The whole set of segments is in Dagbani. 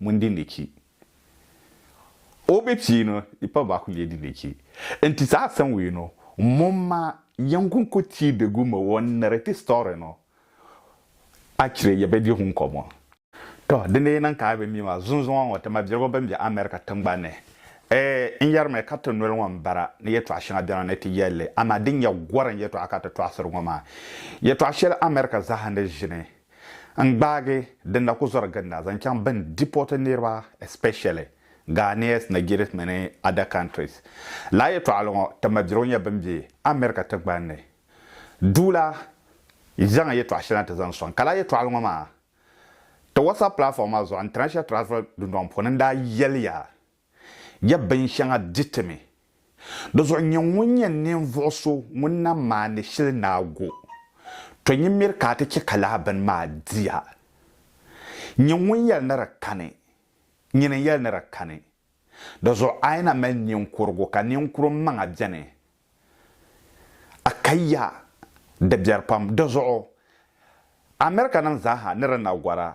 Ŋun di ni chi o be piino i pa ba ku lee di ni chi n ti saa san wee no mom ma yan gun ku ti de gu me o nere ti story no a chire ya be di hun ko mo. To di ni niŋ ka a be mi maa zunzuŋɔ ŋɔ ti ma biligu bɛn be America tiŋgban ni ee n yeri mi ka ti noli ŋɔ n bara ni yɛtɔɣa shɛŋa bɛna ni ti yɛli li amaa din nyɛ gorim yɛtɔɣa ka ti tɔɣisiri ŋɔ maa yɛtɔɣa shɛli America zaa ni ʒini n gbaagi din na ku zɔri ginda zaŋ chaŋ bɛn deport niriba especially Ghanaians, Nigerians mini other countries. Lala yɛtɔɣili ŋɔ ti ma dirigu nyɛ bɛn be America tiŋgbani ni duu la zaŋ yɛtɔɣa shɛli na ti zaŋ sɔŋ ka lala yɛtɔɣili ŋɔ maa ti WhatsApp platform maa zuɣu International Travel Dundɔŋ puuni n daa yɛliya Ya binshɛŋa diti mi. Di zuɣu nyɛ ŋun nyɛ ninvuɣ so ŋun na maani shili ni a go, tɔ nyin miri ka a ti chɛ ka lala bini maa di a. Nyin ŋun yɛli ni di kani, nyin n-yɛli ni di kani. Di zuɣu a yi na mali ninkurigu ka ninkurum maŋa beni, a ka ya di biɛri pam. Di zuɣu Amerikanim zaa ha ni di na gɔr a,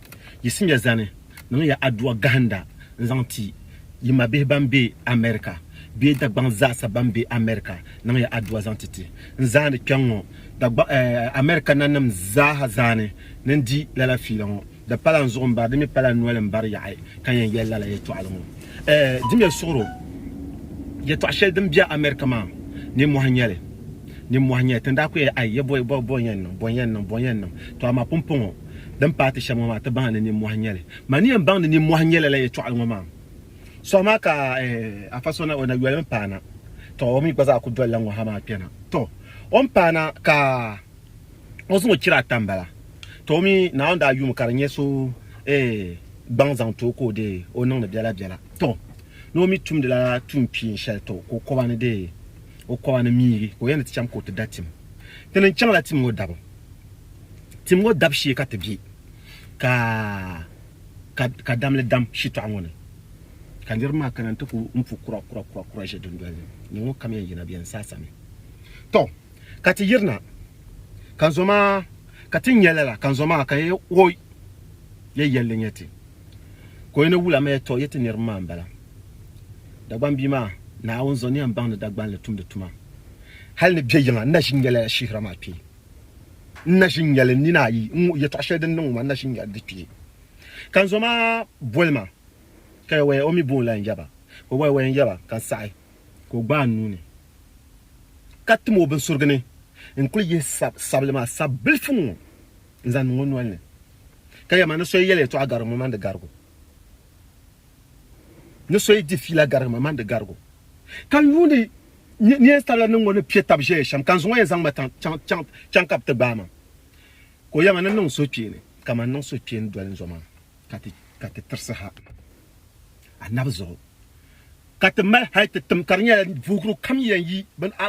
Yisimya zani niŋya aduwa gahinda n-zaŋ ti yi mabihi ban be America bee Dagbaŋ zaasa ban be America niŋya aduwa zaŋ ti ti n zaani kpɛŋŋɔ America nanim zaaha zaani ni n di lala fiila ŋɔ. Di pala n zuɣu m-bari, di mi pala n noli m-bari yaɣi ka yɛn yɛli lala yɛtɔɣili ŋɔ. Dimya suɣiro, yɛtɔɣ shɛli din be America maa, nimmɔhi n-nyɛ li. Nimmɔhi n-nyɛ li. Ti ni daa kuyaya, Ai! Yɛ bɔ, bɔ, bɔ n-yɛn niŋ, bɔ n-yɛn niŋ, bɔ n-yɛn niŋ. Tɔ amaa pumpɔŋɔ. din paai ti shɛm ŋɔ maa ti baŋ ni nimmɔhi n-nyɛ li. Ma ni yɛn baŋ ni nimmɔhi n-nyɛ lala yɛtɔɣili ŋɔ maam. Suɣa maa ka Afa so na o na yolimi paana, tɔ o mi gba zaa ku dolila ŋɔ ha maa kpɛna. Tɔ! O ni paana ka o zaŋ o chira ata m-bala. Tɔ! O mi Naawuni daa yumi ka di nyɛ so ee gbaŋ zaŋ ti o ka o dee o niŋdi biɛla biɛla. Tɔ! Ni o mi tumdi lala tuun kpiin shɛli tɔ ka o kɔba ni dee o kɔba ni miigi ka o yɛn ni ti cham ka o ti da tim. Ti ni chaŋ la tim ŋɔ dabu Tim ŋɔ dab shee ka ti be ka ka damli dam shitɔɣu ŋɔ ni ka niriba maa kana nti ku mpu kura kura kura kura ʒe dundoli ni ni ŋɔ kam yɛn yina bɛ yɛn saa sami tɔ ka ti yirina ka zoma ka ti nya lala ka zoma ka yɛ o yɛ yɛlli nyɛ ti ka o yɛn wula ma yɛ tɔ yɛ ti niriba maa m-bala Dagbaŋ bia maa, Naawuni zaŋ niɛm baŋ ni Dagbaŋ li tumdi tuma. Hal ni bɛ yiŋa, n na ʒin nyɛla ya shihira maa kpee. N na ʒin nyɛli n nina ayi n-ŋuhi yɛtɔɣ shɛli din niŋ ŋɔ maa, n na ʒin nyɛli di kpee. Ka n zo maa boli ma, ka ya waya, o mi booni la n yaba, ka o waya-waya n yaba, ka n saɣi, ka o gbaai n nuu ni, ka tim o binsurigu ni, n kul yihi sabili maa sabilifu ŋɔ n-zaŋ niŋ o nol ni. Ka ya ma, ni so yi yɛli yɛtɔɣ garigu, ŋun mani di garigu. ni so yi di fiila garigi ma, man di garigu. Ka n yuuni ni yɛn sabila niŋ ŋɔ ni piɛ tab ʒɛya shɛm, ka n zuŋɔ yɛn zaŋ ma chaŋ ka bɛ ti gbaai ma. Ka o yɛma ni niŋ suhukpeeni kaman niŋ suhukpeeni doli n zo maa, ka ti tirisi ha anabi zuɣu, ka ti mali hal ti tim ka di nyɛla vuhuguru kam yɛn yi bini a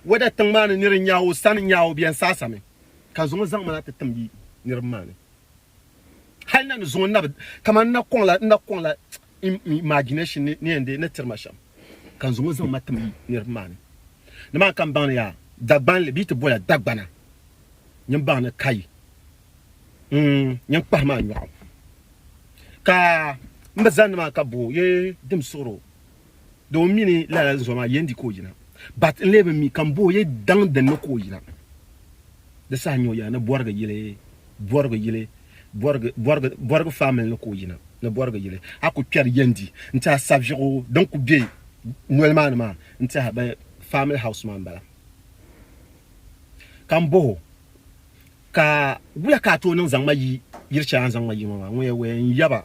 wɛda tiŋ maa ni nir n nya o sani nya o bɛn saasami, ka zuŋɔ zaŋ ma na ti tim yi niriba maa ni. Hali na ni zuŋɔ nabi kaman na kɔŋla na kɔŋla imagination ni ni yɛn dee ni tiri ma shɛm ka n zuŋɔ zaŋ ma tim niriba maa ni. Ni maa ka n baŋ ni yaa Dagbanli bee ti boya Dagbana nyin baŋ ni ka yi nyin kpahi ma nyɔɣu ka n bi zani ni maa ka bo yi dimsuɣiro. Doo mi ni lala n zoma yen di ka o yina. But n lee bi mi ka m bo o yɛ daŋ din ni ka o yina. Di saha nyɛ o yina ni Bɔrigi yili Bɔrigi yili Bɔrigi Bɔrigi Bɔrigi family ni ka o yina ni Bɔrigi yili. A ku kpɛri yen di n tiɛha saviɣu din ku be noli maa ni maa n tiɛha bɛ family house maa m-bala. Ka m boh o ka wula ka a tooi niŋ zaŋ ma yi yili shɛli a ni zaŋ ma yi ŋɔ maa? Ŋun yɛn waya n yaba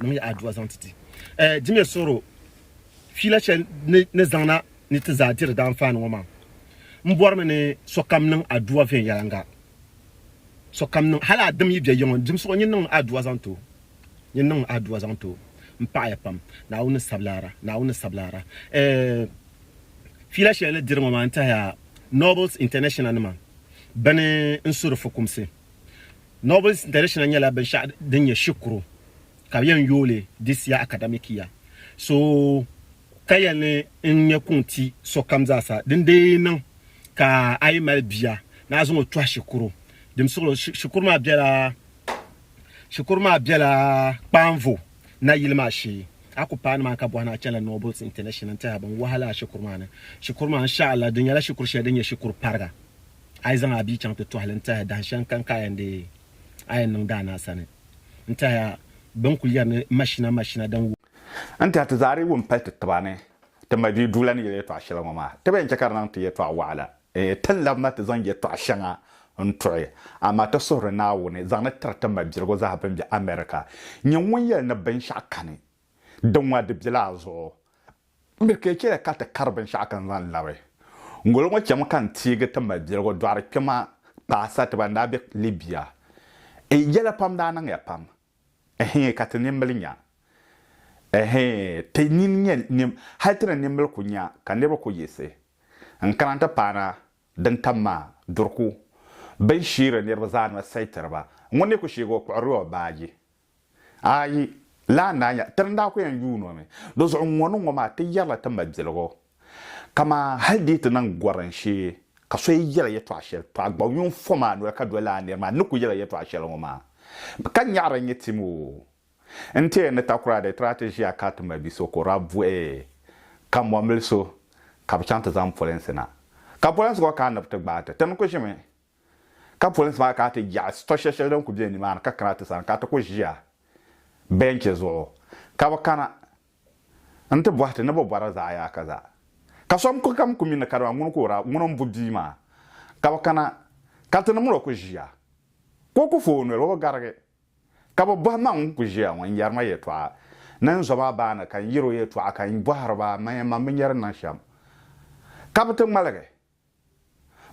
Nim ya adua zaŋ ti ti. Eh, di mi suhiri o fiila shɛli ni ni zaŋna ni ti zaa diri daanfaani ŋɔ maa. N bɔrimi ni sokam niŋ adua viɛnyɛliŋga. Sokam niŋ, hal a dim yi bɛ yiŋɔ n-dim suɣu, nyin niŋmi adua zaŋ ti o. Nyin niŋmi adua zaŋ ti o. M paɣi ya pam. Naawuni ni sabi laara. Naawuni ni sabi laara. Eh, fiila shɛli ni diri ŋɔ maa n-tɛhiya Nobles International nima bɛ ni n-su di fukumsi. Novels International nyɛla binshɛɣu din nyɛ shikuru ka bɛ yɛn yooi li this year academic year so ka yɛli ni n ŋme kuŋ ti sokam zaa sa din dee niŋ ka a yi mali bia ni a zaŋ o tɔhi shikuru din suɣiri o shikuru maa bela shikuru maa bela kpaanvo nayili maa shee a ku paai nimaani ka bɔhi ni a chanila Novels International n-tɛhi a bɛn wahala a shikuru maa ni shikuru maa insha'Allah di nyɛla shikuru shɛli din nyɛ shikuru pariga. a yi zaŋ a bia chaŋ ti tɔhi li n-tɛhi dahin shɛli n-kani ka a yɛn deei a yɛn niŋ daa ni a sani n-tɛhi a bɛ ni kul yɛri ni mashina mashina din wuhi N-tɛhi ti zaa di wum pali ti tiba ni ti ma bia duu la ni yɛli yɛtɔɣ shɛli ŋɔ maa. Ti bi yɛn chɛ ka di niŋ ti yɛtɔɣ wɔɣila. Ee, ti ni labi ma ti zaŋ yɛtɔɣ shɛŋa n-tuɣi, amaa ti suhiri Naawuni zaŋ ni tiri ti mabiligu zaa bɛn be America. Nyini ŋun yɛli ni binshɛɣu kani Din ŋɔ di bela a zuɣu. M mi ka yi chɛli ka ti kari binshɛɣu ka n zaŋ labi. Ŋolo ŋɔ chɛmi ka n teegi ti ma biɛligu dɔɣiri kpɛma paasa ti ban daa be Libya. N yɛla pam daa niŋya pam. Ɛhii ka ti nimbili nya. Ɛhii ti nini nyɛ nim hali ti ni nimbili ku nya ka niriba ku yiɣisi n kana nti paana din tam maa duri ku bɛ n sheeri niriba zaa noli sayi tiri ba. Ŋuni ni ku sheegi o kpuɣirila o baaji Ayi, lala n-daa nyɛla, ti ni daa kul yɛn yuun o mi. Di zuɣu ŋ-ŋɔ ni ŋ-ŋɔ maa, ti yɛrila ti mabiligu. Kaman hal di yi ti niŋ gɔrim shee, ka so yi yɛra yɛtɔɣ shɛli, tɔ a gba yuun fɔmi a noli ka doli lala nir maa ni ni kul yɛrila yɛtɔɣ shɛli ŋɔ maa. Ka nyaɣiri nyɛ tim o. N ti yɛn ni takura di, ti daa ti ʒiya ka ti ma bi so ka o daa bɔhi, Ka mɔmbil so ka bɛ chaŋ ti zaŋ polinsi na? Ka polinsi ŋɔ kana ni bɛ ti gbaai ti? Ti ni kul ʒimi. ka polinsi maa kana ti yaɣi sitɔ shɛli shɛli din kuli be nimaani ka kana ti sani ka ti kuli ʒiya bɛnchi zuɣu ka bɛ kana n-ti bɔhi ti ni bɛ bɔra zaɣiyaaka zaa ka sokam kuli mi ni kadama ŋuni ka o daa ŋuni m-bu bia maa ka bɛ kana ka ti ni mini o kuli ʒiya ka o kuli fo o noli o bi garigi ka bɛ bɔhi ma ŋun kuli ʒiya ŋɔ n-yɛri ma yɛltɔɣa ni n zo ma baa ni ka n yɛri o yɛltɔɣa ka n bɔhiri ba man yɛn man binyɛri niŋ shɛm ka bɛ ti ŋmaligi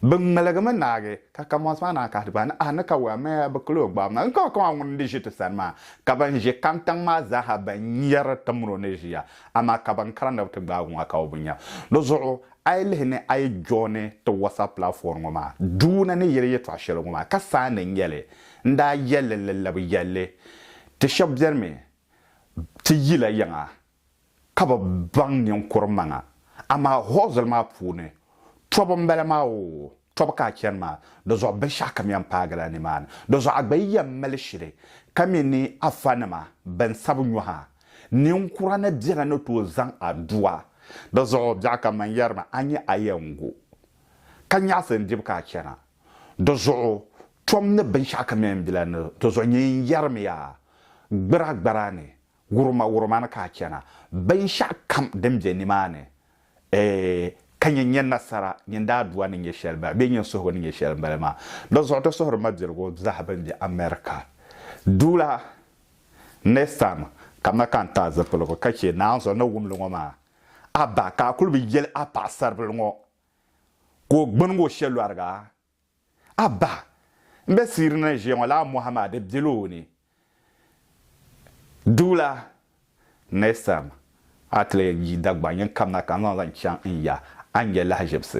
Bɛ ŋmaligimi naagi, ka Kamɔs maa naan kahidi ba ni, A ni ka wum amaya bi kuli o gbabu na? N ka o kaman ŋuni n-di ʒi ti sani maa? Ka ban ʒi kantiŋ maa zaaha bɛn nyari timiro ni ʒiya, amaa ka ban kara ni bɛ ti gbaag o maa ka o bi nya. Di zuɣu a yi lihi ni a yi jɔɔni ti WhatsApp platform ŋɔ maa duu na ni yɛli yɛtɔɣ shɛli ŋɔ maa, ka saani n nya li, n daa yɛli li ni labi yɛl li, Ti shɛb bɛnimi ti yila yiŋa ka bi baŋ ninkur maŋa, amaa hɔɔzili maa puuni tɔbu m-bala maa oo, tɔbu ka a chani maa, di zuɣu binshɛɣu kam yɛn paagila nimaani. Di zuɣu a gba yi yɛn mali shiri ka mi ni a fanima bɛn sabi nyɔhi a, ninkura ni bela ni tooi zaŋ a du a. Di zuɣu biɛɣu kam man yɛri ma a nya a yɛn gu, ka nyaɣisi n-dibi ka a chana. Di zuɣu tɔbu ni binshɛɣu kam yɛn bela ni, di zuɣu nyini n-yɛrimiya a, gbira gbara ni Wurima wurima ni ka a chana, binshɛɣu kam din be nimaani, eeh, ka nyin nya nasara, nyin daadua ni nya shɛli m-bala, bee nyin suhigu ni nya shɛli m-bala maa. Di zuɣu ti suhiri mabiligu zaa bɛn be America duu la next time kamina ka n ti a zipiligu ka chɛ naanzuɣu ni wum li ŋɔ maa a bahi ka a kuli bi yɛli a paɣisaribila ŋɔ ka o gbinigi o shelɔriga A ba n be siiri ni ʒiya ŋɔ laa mɔhi maa di bela o ni? Duula, Next time a ti leei yi Dagbani yin kamina ka n zaŋ zaŋ chaŋ n ya a ni nya lahiʒibisi.